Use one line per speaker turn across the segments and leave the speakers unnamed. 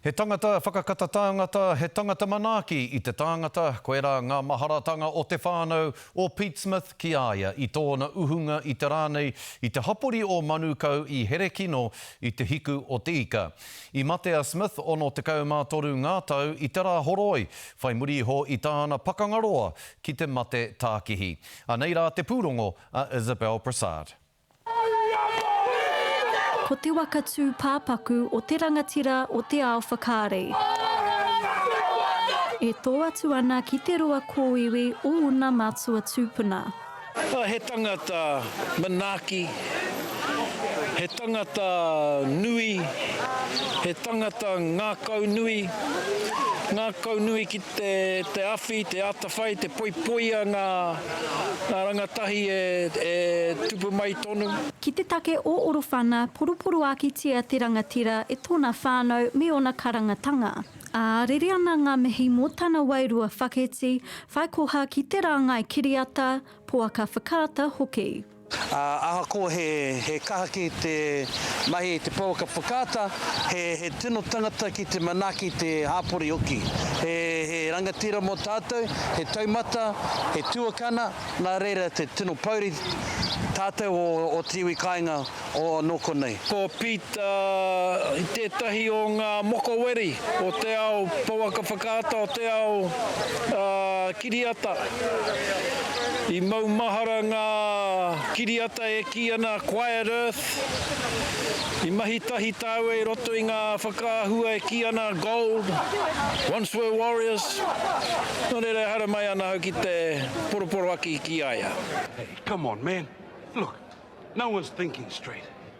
He tangata whakakata tāngata, he tangata manaaki i te tāngata, koirā ngā maharatanga o te whānau o Pete Smith ki a ia i tōna uhunga i te rā nei, i te hapori o Manukau i Herekino i te hiku o te ika. I mate a Smith 63 ngā tau i te Rāhoroi, whai muri iho i tāna pakanga roa ki te mate tākihi. Anei rā te pūrongo a Isabel Brassard.
Ko te waka tūpāpaku o te rangatira o te ao whakaari. E tō atu ana ki te roa kōiwi o ōna mātua tūpuna. He
tangata manaaki, he tangata nui, he tangata ngākaunui, ngākaunui ki. te awhi, te atawhai, te poipoia ngā rangatahi e tupu mai tonu. Ki te take o
Orowhana, poroporoakitia te rangatira e tōna whānau me ōna karangatanga, ā, rere ana ngā mihi mō tana wairua whaketi, whaikoha ki te rāngai kiriata, poaka whakaata hoki. Ahakoa
he kaha ki te mahi i te pouaka whakaata, he tino tangata ki te manaaki te hapori hoki. He rangatira mō tātou, he taumata, he tuakana, nā reira te tino pouri tātou o te iwi kāinga o nō konei. Ko Pita
tētahi o ngā mokoweri o te ao pouaka whakaata, o te ao. Kiriata. I maumahara ngā kiriata e kī ana Quiet Earth. I mahi tahi tāua i roto i ngā whakaahua e kī ana Gold, Once Were Warriors. Nō reira e haere mai ana au ki te poroporoaki ki a ia. Hey, come on
man. Look, no one's thinking straight.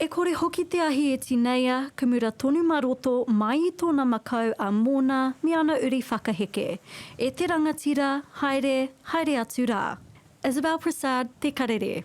E kore hoki
te ahi e tineia, kumura tonu ma roto, mai i tona makau a Mona me ana uri whakaheke. E te rangatira, haere, haere atu ra. Isabel Prasad, Te Karere.